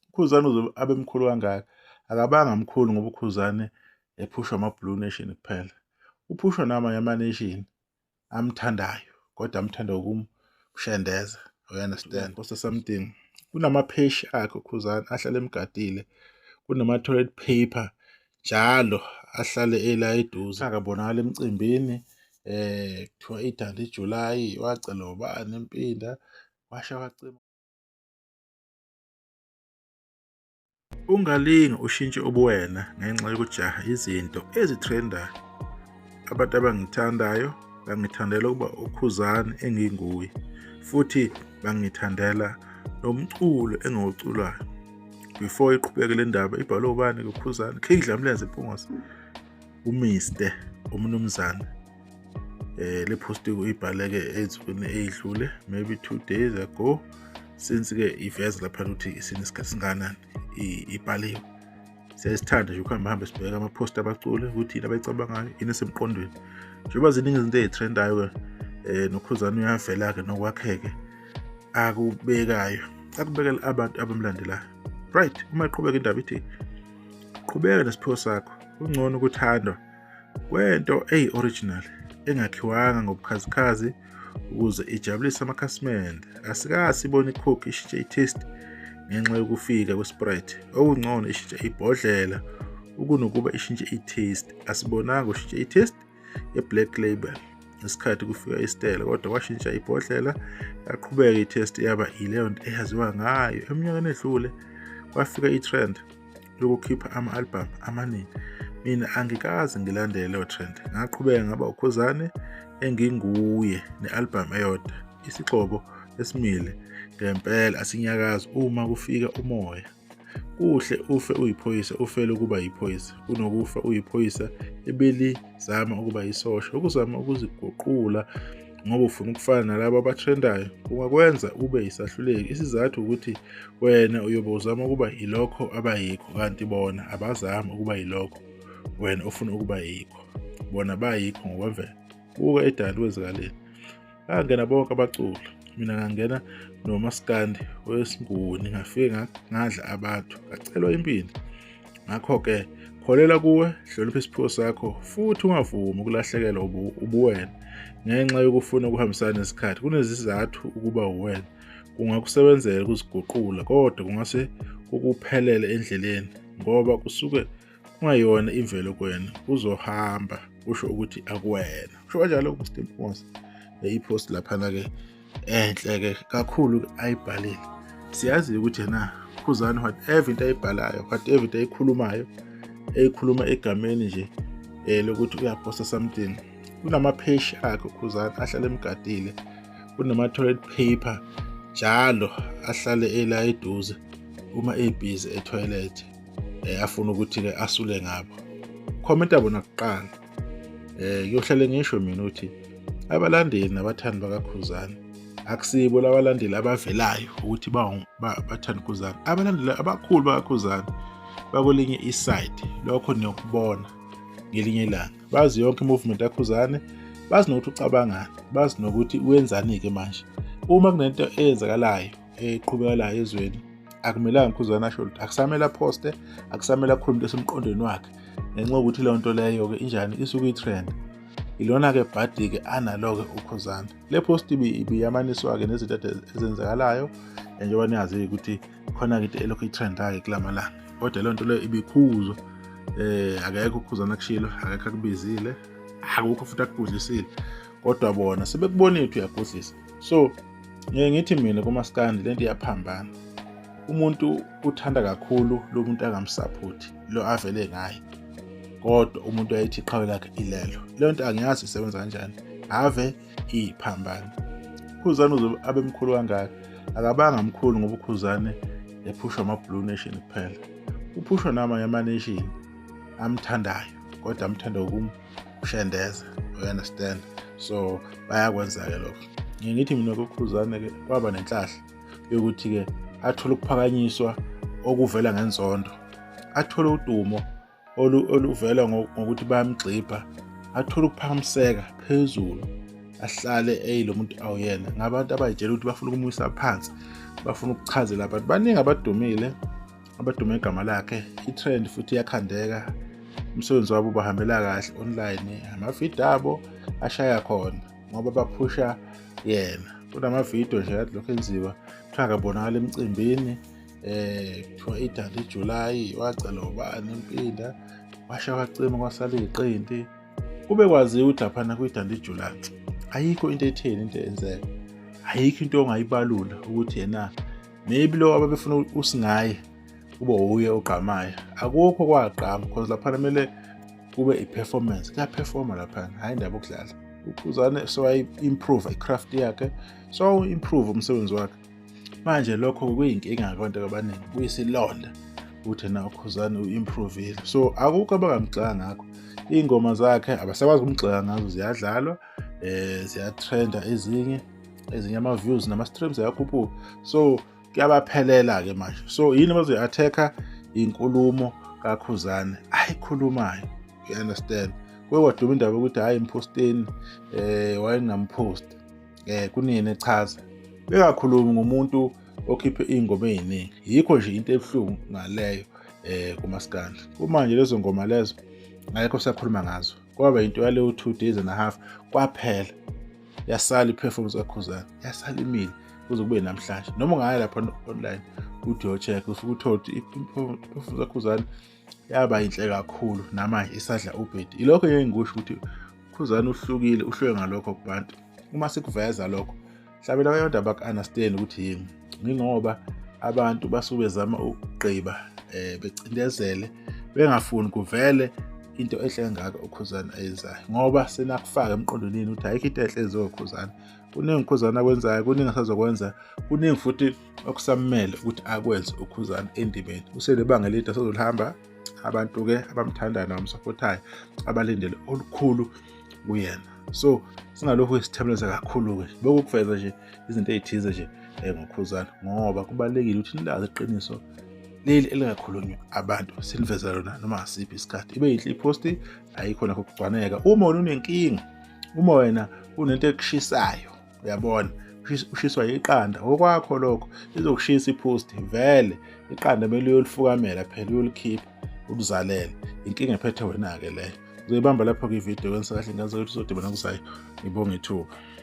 ukhuzane uzobe abe mkhulu kangaka akabanga mkhulu ngoba ukhuzane ephushwa ama-blue nation kuphela uphushwa namanye ama-nation amthandayo kodwa amthanda ukumshendeza you understand kosa something kunamapheshi akhe ukhuzane ahlale emgadile kunama-toilet paper njalo ahlale ela eduze akabonakala emcimbini eh kuthiwa idanda iJuly wacela ubani impinda washa wacima Ungalingi ushintshe ubuwena ngenxa yokujaha izinto ezitrendayo. Abantu abangithandayo bangithandela ukuba uKhuzani enginguye futhi bangithandela nomculo engiwuculayo. Before iqhubeke le ndaba ibhalwe ubani kuKhuzani? King Dlamlenze Mpungose, uMiste, uMnumzane. eh le post uyibhaleke ezweni eyidlule maybe 2 days ago since ke iveza lapha ukuthi isinesikhathi singanani ibhaliwe siyayisithanda nje ukuhamba hambe sibheka ama post abaculi ukuthi yini abayicabangayo yini esemqondweni njengoba ziningi izinto ezitrendayo ke eh nokhuzana uyavela ke nokwakheke akubekayo akubekela abantu abamlandelayo right uma iqhubeka indaba ithi qhubeka nesiphiwo sakho kungcono ukuthandwa kwento eyi-original engakhiwanga ngobukhazikhazi ukuze ijabulise amakhasimende asikasibona icoke ishintshe i-taste ngenxa yokufika kwesprite okungcono ishintshe ibhodlela ukunokuba ishintshe i-taste asibonanga ushintshe i-taste ye-black label ngesikhathi kufika isitela kodwa kwashintsha ibhodlela yaqhubeka i-test yaba ileyo nto eyaziwa ngayo eminyakeni edlule kwafika i-trend yokukhipha ama-albhamu amaningi mina angikaze ngilandele leyo trend ngaqhubeka ngaba ukhuzane enginguye ne-albhamu eyodwa isigxobo esimile ngempela asinyakazi uma kufika umoya kuhle ufe uyiphoyisa ufele ukuba yiphoyisa kunokufa uyiphoyisa ebelizama ukuba yisosha ukuzama ukuziguqula ngoba ufuna ukufana nalabo abathrendayo kungakwenza ube yisahluleki isizathu ukuthi wena uyobe uzama ukuba yilokho abayikho kanti bona abazami ukuba yilokho wena ofuna ukuba yikho bona bayikho ngokwemvelo buka edali kwezikaleni bangena bonke abaculi mina ngangena nomaskandi wesinguni ngafike ngadla abantu ngacelwa impindi ngakho-ke kholela kuwe hlonipha isiphiwo sakho futhi ungavumi ukulahlekelwa ubuwena ngenxa yokufuna ukuhambisana nesikhathi kunezizathu ukuba uwena kungakusebenzela ukuziguqula kodwa kungase kukuphelele endleleni ngoba kusuke kungayona imvelo kwena uzohamba usho ukuthi akuwena usho kanjalo ukustimposa iphost laphana-ke enhle ke kakhulu ayibhalile siyazi ukuthi yena khuzani whatever into ayibhalayo whatever into ayikhulumayo eyikhuluma egameni nje um lokuthi uyaposta something kunamapheshi akhe ukhuzani ahlale emgadile kunama-toilet paper njalo ahlale ela eduze uma ebhizi ethoyilethi um eh, afuna ukuthi-ke asule ngabo khomenta bona kuqala eh kuyohlale ngisho mina uthi abalandeli nabathandi bakakhuzana akusibo labalandeli abavelayo ukuthi bathanda ukhuzana abalandeli abakhulu bakakhuzana bakwelinye iside lokho niyokubona ngelinye ilanga bazi yonke imovement yakhuzane bazi nokuthi ucabangani bazi nokuthi wenzani-ke manje uma kunento eyenzakalayo eqhubeka la ezweni akumelanga ukhuzana asho lutho akusamele aphoste akusamele akhulume into esemqondweni wakhe ngenxa yokuthi leyo nto leyo-ke injani isuke i-trend ilona-ke bhadi-ke analo-ke ukhuzana le post ibiyamaniswa-ke nezinto ezenzakalayo njengoba niyazi-ke ukuthi khona-ke into elokhu i-trend-ake kula malanga kodwa leyo nto leyo ibikhuzwa eh akekho ukhuzana kushilo akekho akubizile akukho futhi akubhudlisile kodwa bona sebekubonile ukuthi uyabhudlisa so ngeke ngithi mina kumaskandi lento iyaphambana umuntu uthanda kakhulu lo muntu angamsaphothi lo avele ngaye kodwa umuntu ayithi iqhawe lakhe ilelo leyo nto angiyazi isebenza kanjani ave iphambana ukhuzane uzobe abe mkhulu kangaka akabanga mkhulu ngoba ukhuzane ephushwa ama-blue nation kuphela uphushwa namanye ama-nation amthandayo kodwa amthanda ukumkhulu ushendeza you understand so bayakwenza-ke lokho ngithi mina kokhuzane-ke kwaba nenhlahla yokuthi-ke athole ukuphakanyiswa okuvela ngenzondo athole udumo oluvela ngokuthi bayamgxibha athole ukuphakamiseka phezulu ahlale eyilo muntu awuyena ngabantu abayitshela ukuthi bafuna ukumwisa phansi bafuna ukuchazela abantu baningi abadumile abadume igama lakhe i-trend futhi iyakhandeka umsebenzi wabo ubahambela kahle online amavidiyo abo ashaya khona ngoba baphusha yena kunamavidiyo nje kade lokhu enziwa kuthiwa akabonakala emcimbini eh kuthiwa idala iJuly wacela ubani impinda washa wacima kwasala iqinti kube kwaziwa ukuthi laphana kwidala iJuly ayikho into etheni into enzeka ayikho into ongayibalula ukuthi yena maybe lo ababefuna usingaye kube wuye ogqamayo akukho kwagqama because laphana kumele kube i-performance kuyaphefoma laphana hhayi indaba okudlala uphuzane sewayi-improve i-craft yakhe sewawuimprove umsebenzi wakhe manje lokho kuyinkinga kwabantu abaningi kuyisilonda ukuthi na ukhuzane u-improvile so akukho abangamgxeka ngakho iy'ngoma zakhe abasakwazi ukumgxeka ngazo ziyadlalwa um ziyatrenda ezinye ezinye ama-views nama-streams ayakhuphuka so kuyabaphelela-ke manje so yini bazoyi-attack-a inkulumo kakhuzane ayikhulumayo you understand kuye kwaduma indaba yokuthi hhayi mphosteni um eh, wayengamposti um eh, kunini echaza bengakhulumi ngomuntu okhiphe iy'ngoma ey'ningi yikho nje into ebuhlungu ngaleyo um kumaskandla kumanje lezo ngoma lezo ngayekho sakhuluma ngazo kwaba yinto yaleyo two days and a half kwaphela yasala i-performance kakhuzana yasala imile kuze kube namhlanje noma ungaya lapha online uthi yocheck usuke uthole ukuthi i-performance kakhuzana yaba yinhle kakhulu namanje isadla ubhedi ilokho ngeke ngikusho ukuthi khuzana uhlukile uhluke ngalokho kubantu uma sikuveza lokho hlabela abantu abak-understand ukuthi yini yingoba abantu basuke bezama ukugqiba um becindezele bengafuni kuvele into enhle engaka ukhuzane ayenzayo ngoba senakufaka emqondonini ukuthi ayikho into enhle eziwe ukhuzane kuningi ukhuzane akwenzayo kuningi asazokwenza kuningi futhi okusamele ukuthi akwenze ukhuzane endimeni uselebanga elide asazolihamba abantu-ke abamthandayo nabamsapothayo abalindele olukhulu kuyena so singalokhu sithembeleza kakhulu-ke bokukuveza nje izinto ey'thize nje um ngokhuzana ngoba kubalulekile ukuthi nilazi iqiniso leli elingakhulunywa abantu siniveza lona noma ngasiphi isikhathi ibe yinhle iphosti ayikho nakho kugcwaneka uma wena unenkinga uma wena unento ekushisayo uyabona ushiswa iqanda okwakho lokho lizokushisa iphosti vele iqanda kumele uyolifukamela phela uyolikhipha uluzalele inkinga ephethe wena-ke leyo uzoyibamba lapho-ke ividiyo kwenza kahle ngazi ukuthi uzodibana kuzayo ngibonge ithuba